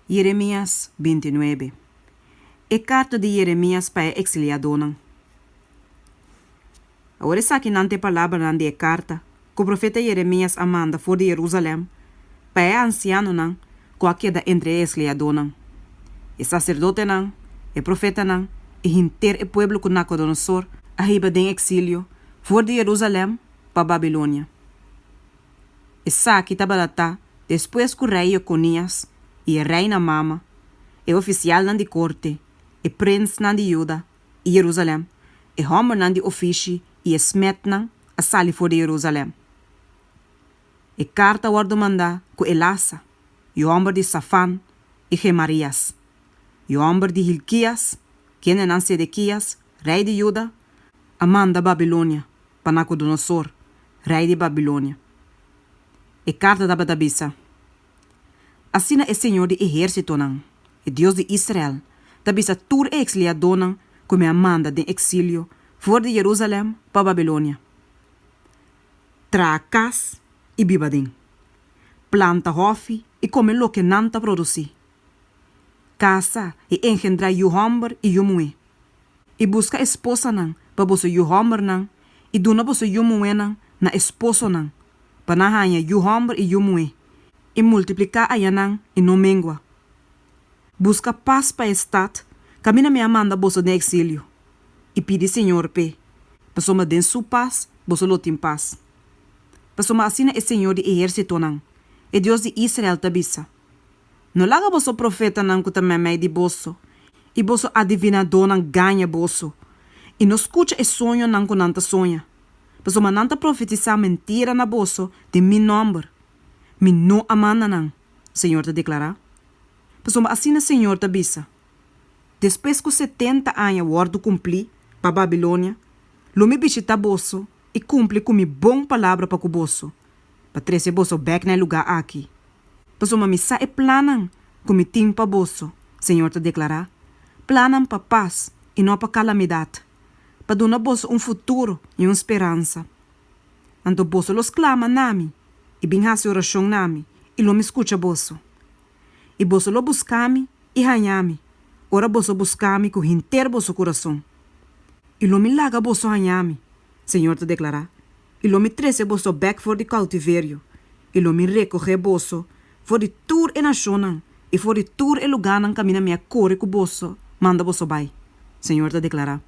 Jeremias binti nuebe E karta di Jeremias pa e eksiliadonan Awor esaki nan ta e palabranan di e karta ku profeta Jeremias a manda for di Jerusalèm pa e ansianonan ku a keda entre e eksliadonan, e saserdotenan, e profetanan i henter e pueblo ku Nakodonosor a hiba den eksilio for di Jerusalèm pa Babilonia. Esaki tabalatá despues ku rei Jekonias i e rei na mama, e ofisialnan di korte, e prinsnan di Juda i Jerusalèm, e hòmbernan di ofishi i e smètnan a sali for di Jerusalèm. E karta a wòrdu mandá ku Elasa, yu hòmber di Safan, i Gemarias, yu hòmber di Hilkias, kendenan Sedekias rei di Juda, a manda Babilonia pa Nakudonosor, rei di Babilonia. E karta tabata bisa, Asina e Señor di ehérsitonan, e Dios di Israel, ta bisa tur e eksliadónan ku mi a manda den eksilio for di Jerusalèm pa Babilonia, Traha kas i biba den. Planta hòfi i kome loke nan ta produsí. Kasa i engendrá yu hòmber i yu muhé. I buska esposanan pa boso yu hòmbernan, i duna boso yu muhénan na e sposonan, pa nan haña yu hòmber i yu muhé, i multipliká aña nan i no mengua. Buska pas pa e stat, kaminda mi a manda boso den eksilio, i pidi Señor p'e, pasobra den su pas boso lo tin pas. Pasobra asina e Señor di ehérsitonan, e Dios di Israel ta bisa, No laga boso profetanan ku ta mèmei di boso i boso adivinadónan gaña boso i no skucha e soñonan ku nan ta soña, pasobra nan ta profetisá mentira na boso den mi nòmber. Mi no a manda nan, Señor ta deklará. Pasobra asina Señor ta bisa, Despues ku setenta aña wòrdu kumplí pa Babilonia, lo mi bishitá boso i kumpli ku mi bon palabra pa ku boso, pa trece boso bek na e lugá aki, pasobra mi sa e plannan cu mi tin pa boso, Señor ta declará, plannan pa pas i no pa calamidad, pa duna boso un futuro i un speransa. Anto boso lo sclama na mi, i bin haci oracion na mi, i lo mi scucha boso. I boso lo busca mi i haña mi, ora boso busca mi cu henter boso curason. I lo mi laga boso haña mi, Señor ta declará, i lo mi trese boso bek for di koutiverio, i lo mi rekohé boso for di tur e nashonnan i for di tur e lugánan kaminda mi a kore ku boso manda boso bai, Señor ta deklará.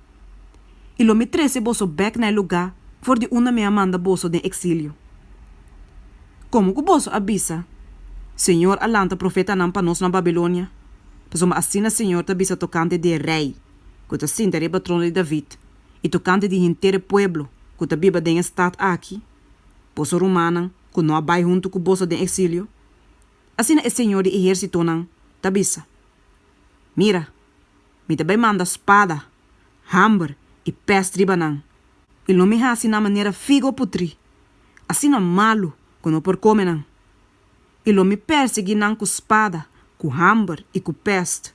I lo mi trese boso bek na e lugá for di unda mi a manda boso den eksilio. Komo ku boso a bisa, Señor a lanta profetanan pa nos na Babilonia, pasobra asina Señor ta bisa tokante di e Rei ku ta sinta riba trono di David, i tokante di henter e pueblo ku ta biba den e stat aki, boso rumannan ku no a bai huntu ku boso den eksilio? Asina e señor di ehérsitonan ta bisa, Mira, mi ta bai manda spada, hamber i pèst riba nan, i lo mi hasi nan manera figo putrí, asina malu ku no por kome nan. i lo mi pèrsiguí nan ku spada, ku hòmber i ku pèst,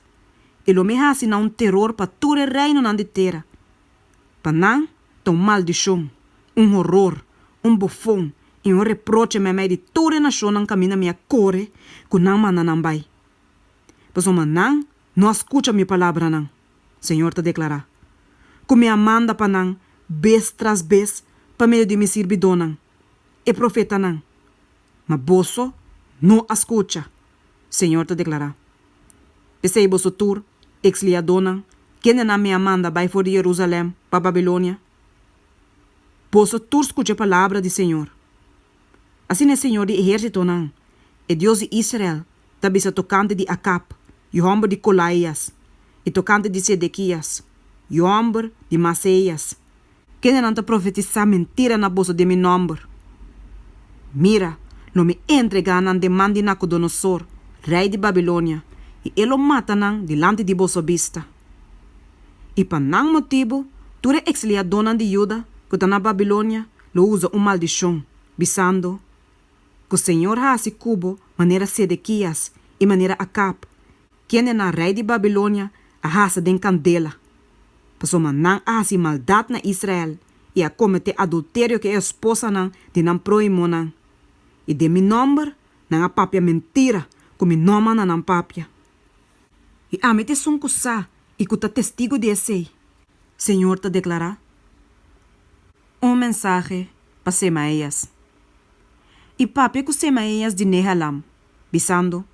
i lo mi hasi nan un teror pa tur e reinonan di tera. Pa nan ta un maldishon, un horor, un bofon i un reproche meimei di tur e nashonnan kaminda mi a kore ku nan manda nan bai. Pasobra nan no a skucha mi palabranan, señor ta deklará, ku mi a manda pa nan bes tras bes pa medio di mi sirbidónan, e profetanan, Ma boso no a scucha, Señor ta declara. P'esei boso tur, ex liadonan, kendenan mi a manda bai for di Jerusalem pa Babilonia, boso tur scucha e palabra di Señor. Asina e Señor di ehercitonan, e Dios di Israel, ta bisa tokante di Acab, yu hòmber di Colaías, i tokante di Sedequías, yu hòmber di Maaseías, Kendenan ta profetisá mentira na boso den mi nòmber? Mira, lo mi entregá nan den man di Nacodonosor, rei di Babilonia, i e lo mata nan dilanti di boso bista. I pa nan motibu tur e eksliadónan di Juda ku ta na Babilonia lo usa un maldishon, bisando, ku Señor hasi ku bo manera Sedekias i manera Akab, kende nan rei di Babilonia a hasa den kandela, pasobra nan a hasi maldat na Israel i a kometé adulterio ku e esposanan di nan próhimonan, i den mi nòmber nan a papia mentira ku mi no a manda nan papia. I ami t'esun ku sa i ku ta testigu di esei, Señor ta deklará. Un mensahe pa Semaías. i papia ku Semaeas di Nehelam, bisando,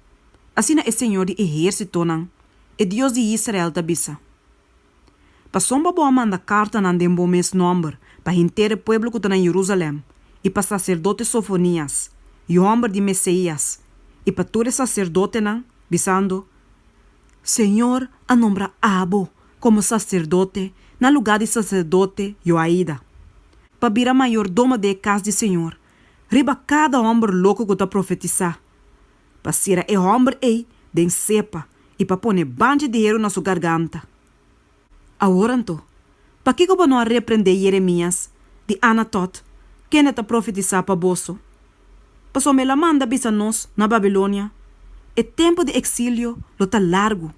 Asina e señor di ehersitonan, e Dios di Israel ta bisa, Pasobra bo a manda kartanan den bo mes nòmber pa henter e pueblo ku ta na Yerusalèm i pa saserdote Sofonias, yu hòmber di Meseias, i pa tur e saserdotenan, bisando, Señor a nombra abo komo saserdote na lugá di saserdote Yoaida. pa bira mayordomo di e kas di Señor, riba kada hòmber loko ku ta profetisá, pa sera e hòmber ei den sepa i pa pone banchi di heru na su garganta. Awor anto, pakiko bo no a reprendé Yeremías di Anatot, kende ta profetisá pa boso? Pasobra el a manda bisa nos na Babilonia, E tempu di eksilio lo ta largu.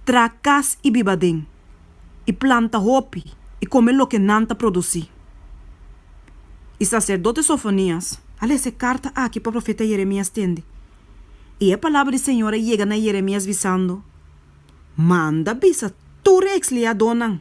Traha kas i biba den, i planta hopi i kome loke nan ta produsí. E saserdote Sofonias a lesa e karta aki pa profeta Yeremias tende, i e palabra di Señor a yega na Yeremias bisando, Manda bisa tur e eksliadónan,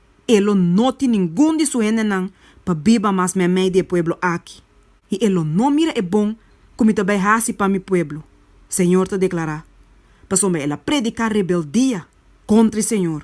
E lo no tin ningun di su hendenan pa biba mas meimei di e pueblo aki, i e lo no mira e bon ku mi ta bai hasi pa mi pueblo, señor ta deklará, pasobra el a prediká rebeldia kontra e señor.